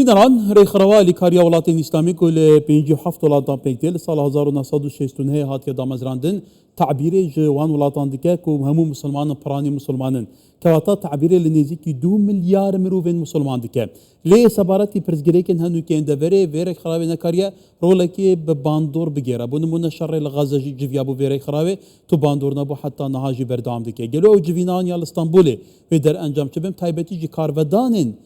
ئیران رێکخراوە ئالیکارییە وڵاتێن ئیسلامیک و لە پێنج و حەفت وڵات دا پێک دێ، لە ساڵ هەزار و نۆ سەد و شەست و نۆ هاتیە دامەزراندن، تەعبیرێ ژە وان وڵاتان دکە ک هەموو موسڵمانن پڕانی موسڵمانن، کەواتە تەعبیرێ لە نێزیکی دوو ملیار مروڤێن موسڵمان دکە. لێێ سەبارەتی پرسگرێکێن هەن و کێن دەڤەرێ ڤێ رێکخراوێ نەکاریە رۆڵێکێ بە باندۆڕ بگێرا، بۆ نموونە شەڕێ لە غەزە ژی جڤیابوو ڤێ رێکخراوێ تو باندۆڕ نەبوو حەتا نەها ژی بەردەوام دکە. گەلۆ ئەو جڤینانە لە ستەنبوڵێ ڤێ دەرئەنجام چ بێم تایبەتی ژی کارڤەدانێن،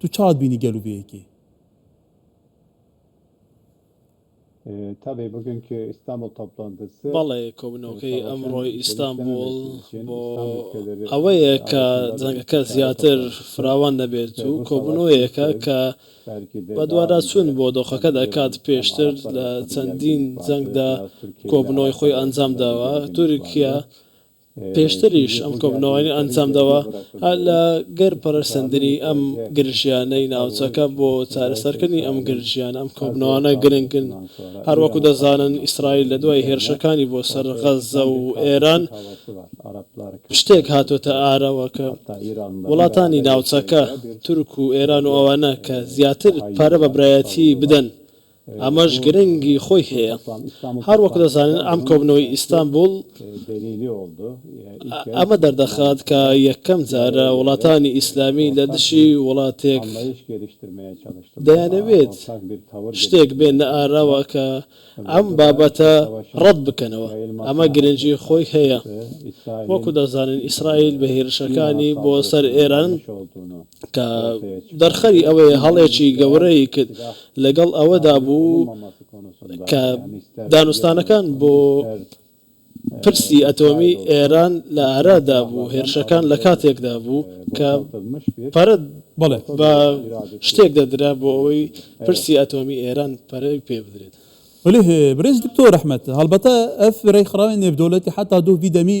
تو چاوت بینی گەل و بەیەکی. بەڵێ کۆبوونەوەکەی ئەمڕۆی ئیستانبوڵ بۆ ئەوەیە کە جەنگەکە زیاتر فراوان نەبێت و کۆبوونەوەیەکە کە بەدواداچوون بۆ دۆخەکە دەکات، پێشتر لە چەندین جەنگدا کۆبوونەوەی خۆی ئەنجامداوە، تورکیا پێشتریش ئەم کۆبوونەوانیان ئەنجامداوە لە گەر پەرەسەندنی ئەم گرژیانەی ناوچەکە بۆ چارەسەرکردنی ئەم گرژیانە ئەم کۆبوونەوانە گرنگن هەروەکو دەزانن ئیسرائیل لە دوای هێرشەکانی بۆ سەر غەززە و ئێران شتێک هاتۆتە ئارەوە کە وڵاتانی ناوچەکە تورک و ئێران و ئەوانە کە زیاتر پارە بە برایەتی بدەن ئەمەش گرنگی خۆی هەیە. هەر وەک دەزانین ئەم کۆبنەوەی ئیستانبوڵ ئەمە دەردەخات کە یەکەم جارە وڵاتانی ئیسلامی لە دژی وڵاتێک دەیانەوێت شتێک بێننە ئاراوە کە ئەم بابەتە ڕەت بکەنەوە. ئەمە گرنگی خۆی هەیە. وەکو دەزانین ئیسرائیل بە هێرشەکانی بۆ سەر ئێران کە دەرخەری ئەوەیە هەڵێکی گەورەی کرد، لەگەڵ ئەوەدا بوو کە دانوستانەکان بۆ پرسی ئەتۆمیی ئێران لە ئارادا بوو، هێرشەکان لە کاتێکدا بوو کە پەرە بە شتێک دەدرا بۆ ئەوەی پرسی ئەتۆمیی ئێران پەرە پێ بدرێت. وەلێ برێز دکتۆر ئەحمەد، هەڵبەتە ئەف رێکخراوێ نێڤدەولەتی حەتا دۆڤی دەمی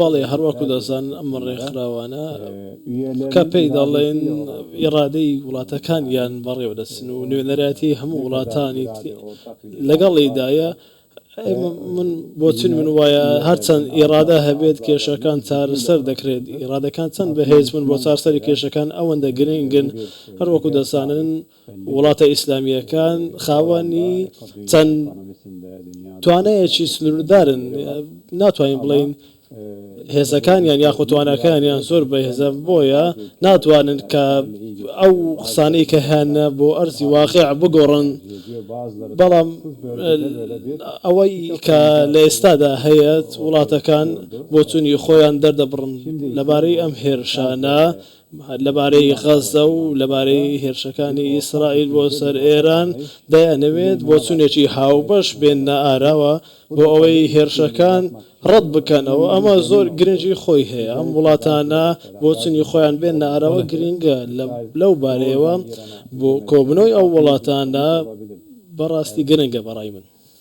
بەڵێ هەڕوەکو دەزانن ئەم ڕێکخراوانە کە پێی دەڵێن ئیڕادەی وڵاتەکانیان بەڕێوە دەچن و نوێنەرایەتی هەموو وڵاتانی لەگەڵیدایە من بۆچون من وایە هەرچەند ئیڕادە هەبێت کێشەکان چارەسەر دەکرێت ئیڕادەکان چەند بەهێز بن بۆ چارسەری کێشەکان ئەوەندە گرنگن هەروەکو دەزانن وڵاتە ئیسلامییەکان خاوەنی چەند توانایەکی سنووردارن، ناتوانین بڵێین هێزەکانیان یاخود تواناکانیان زۆر بەهێزە، بۆیە ناتوانن کە ئەو قسانەی کە هەیانە بۆ ئەرزی واقیع بگۆڕن، بەڵام ئەوەی کە لە ئێستادا هەیە وڵاتەکان بۆچوونی خۆیان دەردەبڕن لەبارەی ئەم هێرشانە، لەبارەی غەززە و لەبارەی هێرشەکانی ئیسرائیل بۆ سەر ئێران، دەیانەوێت بۆچوونێکی هاوبەش بێننە ئاراوە بۆ ئەوەی هێرشەکان ڕەت بکەنەوە، ئەمە زۆر گرنگی خۆی هەیە، ئەم وڵاتانە بۆچوونی خۆیان بێننە ئاراوە گرنگە، لەو بارەیەوە بۆ کۆبوونەوەی ئەو وڵاتانە بەڕاستی گرنگە بەڕای من.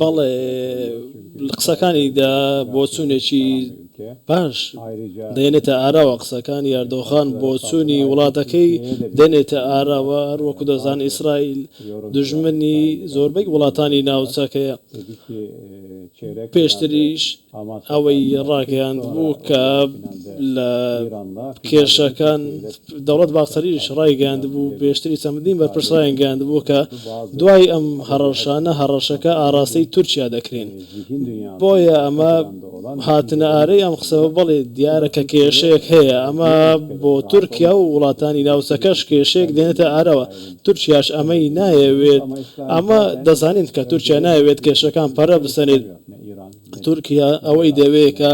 بەڵێ لە قسەکانی دا بۆچوونێکی باش دەێنێتە ئاراوە، قسەکانی ئەردۆغان بۆچوونی وڵاتەکەی دەێنێتە ئاراوە، هەروەکو دەزانین ئیسرائیل دوژمنی زۆربەی وڵاتانی ناوچەکەیە، پێشتریش. ئەوەی ڕاگەیاندبوو کە لە کێشەکان دەوڵەت باخچەلیش ڕایگەیاندبوو پێشتری چەندین بەرپرس ڕایانگەیاندبوو کە دوای ئەم هەڕەشانە هەڕەشەکە ئاڕاستەی تورکیا دەکرێن بۆیە ئەمە هاتنە ئارەی ئەم قسە بەڵێ دیارە کە کێشەیەک هەیە ئەمە بۆ تورکیا و وڵاتانی ناوچەکەش کێشەیەک دێنێتە ئارەوە تورکیاش ئەمەی نایەوێت ئەمە دەزانین کە تورکیا نایەوێت کێشەکان پەرە بسەنێت تورکیا ئەوەی دەوێت کە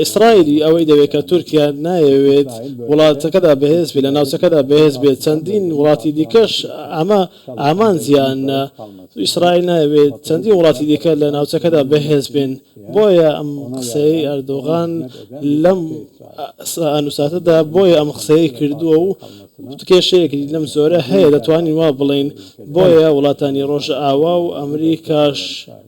ئیسرائیلی ئەوەی دەوێت کە تورکیا نایەوێت وڵاتەکەدا بەهێز بێت لە ناوچەکەدا بەهێز بێت چەندین وڵاتی دیکەش ئەمە ئامانجیان ئیسرائیل ناوێت چەندی وڵاتی دیکە لە ناوچەکەدا بەهێز بێن بۆیە ئەم قسەی ئەردۆغان لەم ئەنووساتەدا بۆیە ئەم قسەیە کردووە و کێشەیەکی لەم زۆرە هەیە دەتوانین وا بڵین بۆیە وڵاتانی ڕۆژ ئاوا و ئەمریکاش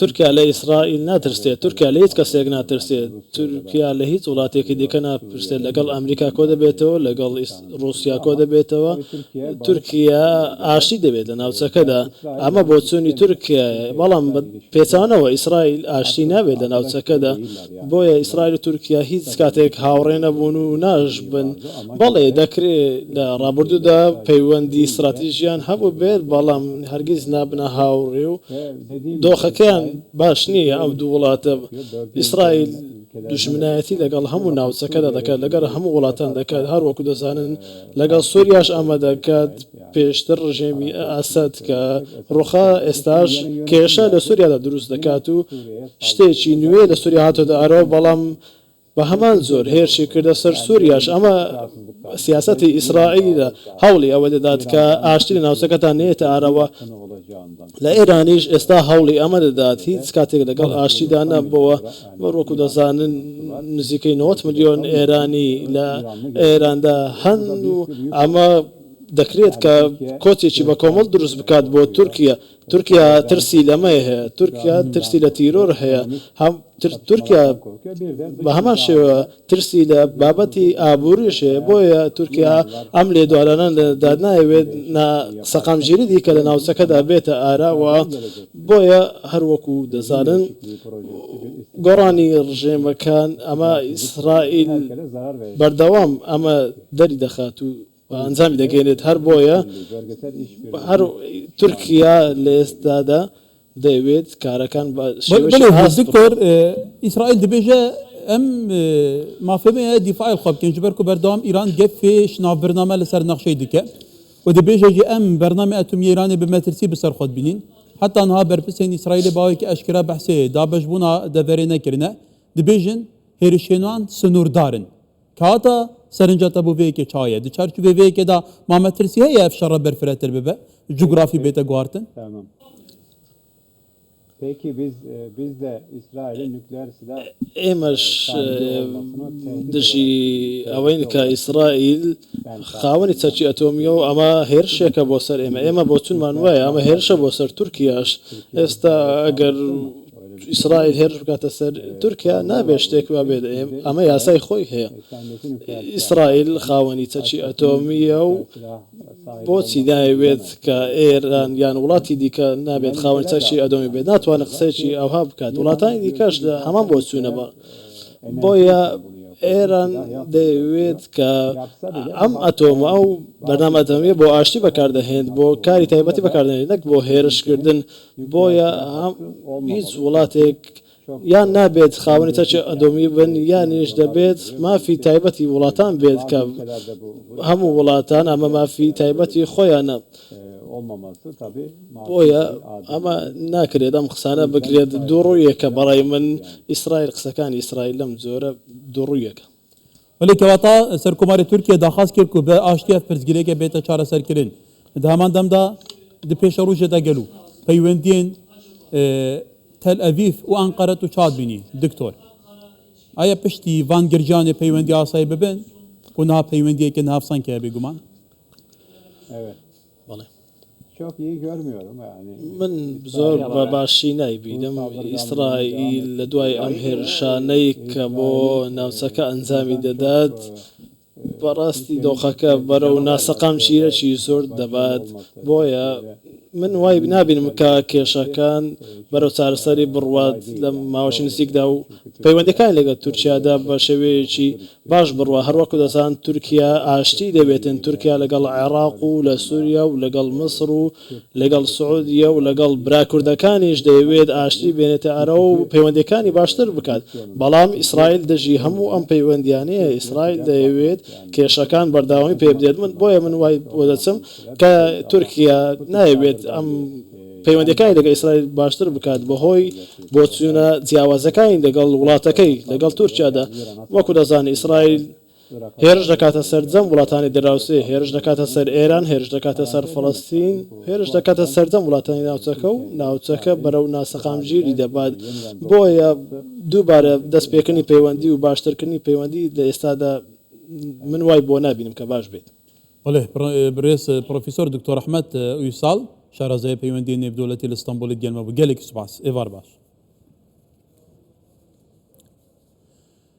تورکیا لە ئیسرائیل ناترسێت، تورکیا لە هیچ کەسێک ناترسێت، تورکیا لە هیچ وڵاتێکی دیکە ناترسێت، لەگەڵ ئەمریکا کۆدەبێتەوە، لەگەڵ ڕووسیا کۆدەبێتەوە، تورکیا ئاشتی دەوێت لە ناوچەکەدا، ئەمە بۆچوونی تورکیایە، بەڵام بە پێچەوانەوە ئیسرائیل ئاشتی ناوێت لە ناوچەکەدا، بۆیە ئیسرائیل و تورکیا هیچ کاتێک هاوڕێ نەبوون و ناشبن. بەڵێ دەکرێت لە ڕابردوودا پەیوەندی ستراتیژییان هەبووبێت، بەڵام هەرگیز نابنە هاوڕێ و دۆخەکەیان باش نییە. ئەم دوو وڵاتە، ئیسرائیل دوژمنایەتی لەگەڵ هەموو ناوچەکەدا دەکات، لەگەڵ هەموو وڵاتان دەکات، هەروەکو دەزانن لەگەڵ سوریاش ئەمە دەکات. پێشتر ڕژێمی ئەسەد کە ڕوخا، ئێستاش کێشە لە سوریادا دروست دەکات و شتێکی نوێ لە سوریا هاتۆتە ئەرەوە، بەڵام بە هەمان جۆر هێرشی کردە سەر سوریاش، ئەمە سیاسەتی ئیسرائیلە هەوڵی ئەوە دەدات کە ئاشتی لە ناوچەکەدا نێتە ئەرەوە، لە ئێرانیش ئێستا هەوڵی ئەمە دەدات، هیچ کاتێک لەگەڵ ئاشتیدا نەبووە، وەکو دەزانن نزیکەی نەوەد ملیۆن ئێرانی لە ئێراندا هەن و ئەمە. دەکرێت کە کۆچێکی بە کۆمەڵ دروست بکات بۆ تورکیە، تورکیا ترسی لە مەیە هەیە، تورکیا ترسی لە تیرۆر هەیە، هەم تورکیا بە هەمان شێوە ترسی لە بابەتی ئابووریش هەیە، بۆیە تورکیا ئەم لێدوانانە لەدەدا نایەوێت نا سەقامگیری دیکە لە ناوچەکەدا بێتە ئارا و بۆیە هەر وەکو دەزانن گۆڕانی ڕژێمەکان ئەمە ئیسرائیل بەردەوام ئەمە دەری دەخات و و ئەنجامی دەگەێنێت، هەر بۆیە هەر تورکیا لە ئێستادا دەیەوێت کارەکان بە شێوەی هاست بکات. ئیسرائیل دەبێژە ئەم مافەمەیە دیفاعی خۆ بکەن جبەرکو بەردەوام ئیران گەفێ شناو برنامە لەسەر نەخشەی دیکە و دەبێژەژی ئەم بەرنامی ئەتومی ئێرانی بە مەترسی بەسەر خۆت بینین حتا نها بەرپرسێن ئیسرائیلی باوەیەکی ئەشکرا بەحسێ دابەش بوونا دەڤەرێ نەکردە دەبێژن هێرشێنان سنووردارن کاتە سەرنجە تە بۆ وێکێ چاە دو چارچو بێ وێکێدا مامەترسی هەیە ئەف شەڕە بەرفرەتر ببە جوگرافی بێتە گوارتن. ئێمەش دژی ئەوەین کە ئیسرائیل خاوەنی چەکی ئەتۆمیە و ئەمە هێرشێکە بۆ سەر ئێمە ئێمە بۆچونمان وایە ئەمە هێرشە بۆ سەر تورکیاش ئێستا ئەگەر ئیسرائیل هێرش بکاتە سەر تورکیا نابێت شتێک وا بێت ئەمە یاسای خۆی هەیە ئیسرائیل خاوەنی چەکی ئەتۆمیە و بۆچی ناوێت کە ئێران یان وڵاتی دیکە نابێت خاوەن چەکی ئەدۆمی بێت ناتوانە قسەیەکی ئەوها بکات وڵاتانی دیکەش لە هەمان بۆ چوونە بە بۆیە ئێران دەوێت کە ئەم ئەتۆمە ئەو بەنامەتەمیە بۆ ئاشتی بەکاردەهێنێت بۆ کاری تایبەتی بەکاردێنێت نەک بۆ هێرشکردن بۆیە هیچ وڵاتێک یان نابێت خاوەنی تاکی ئەدۆمی بن یانیش دەبێت مافی تایبەتی وڵاتان بێت کە هەموو وڵاتان ئەمە مافی تایبەتی خۆیانە بۆیە ئەمە ناکرێت ئەم قسانە بکرێت دووڕوویەکە بەڕای من ئیسرائیل قسەکانی ئیسرائیل لەم جۆرە دووڕوویەکە وەلێ کەواتە سەرکۆماری تورکیە داخواست کرد و بە ئاشتیە پرسگیرێکە بێتە چارەسەرکردن دە هەمان دەمدا دە پێشە ڕژێ دەگەل و پەیوەندین تەل ئەڤیف و ئەنقەرەت و چاد بینی دکتۆر ئایا پشتی ڤانگرجانێ پەیوەندی ئاسایی ببن و نها پەیوەندیەکە نافسانکە بێگومان بەڵێ. من زۆر بە باشی نایبینم ئیسرائیل لە دوای ئەم هێرشانەی کە بۆ ناوچەکە ئەنجامی دەدات، بەڕاستی دۆخەکە بەرەو ناسەقام چیرەکی زۆر دەبات، بۆیە من وای نابینم کە کێشەکان بەرەو چارەسەری بڕوات لە ماوەی نزیکدا و پەیوەندییەکانی لەگەڵ تورکیادا بە شێوەیەکی باش بڕوا هەروەکو دەزان تورکیا ئاشتی دەوێتن تورکیا لەگەڵ عێڕاق و لە سوریا و لەگەڵ مصر و لەگەڵ سعودیە و لەگەڵ برا کوردەکانیش دەیەوێت ئاشتی بێنێتە ئەرەوە و پەیوەندیەکانی باشتر بکات بەڵام ئیسرائیل دژی هەموو ئەم پەیوەندیانەیە ئیسرائیل دەیەوێت کێشەکان بەردەوامی پێبدێت من بۆیە من وای بۆدەچم کە تورکیا نایەوێت ئەم پەیوەندییەکانی لەگەڵ ئیسرائیل باشتر بکات بەهۆی بۆچوونە جیاوازەکانی لەگەڵ وڵاتەکەی لەگەڵ تورکیادا. وەکو دەزانین ئیسرائیل هێرش دەکاتە سەرجەم وڵاتانی دراوسێ، هێرش دەکاتە سەر ئێران، هێرش دەکاتە سەر فەڵەستین، هێرش دەکاتە سەرجەم وڵاتانی ناوچەکە و ناوچەکە بەرەو ناسەقامگیری دەبات، بۆیە دووبارە دەستپێکردنی پەیوەندی و باشترکردنی پەیوەندی لە ئێستادا من وای بۆ نابینم کە باش بێت. بەڵێ بەڕێز پڕۆفیسۆر دکتۆر ئەحمەد ئویساڵ شارەزای پەیوەندی نێودەوڵەتی لە ستەمبولی گەنمە بوو گەلێکی سوپاس ئێوار باش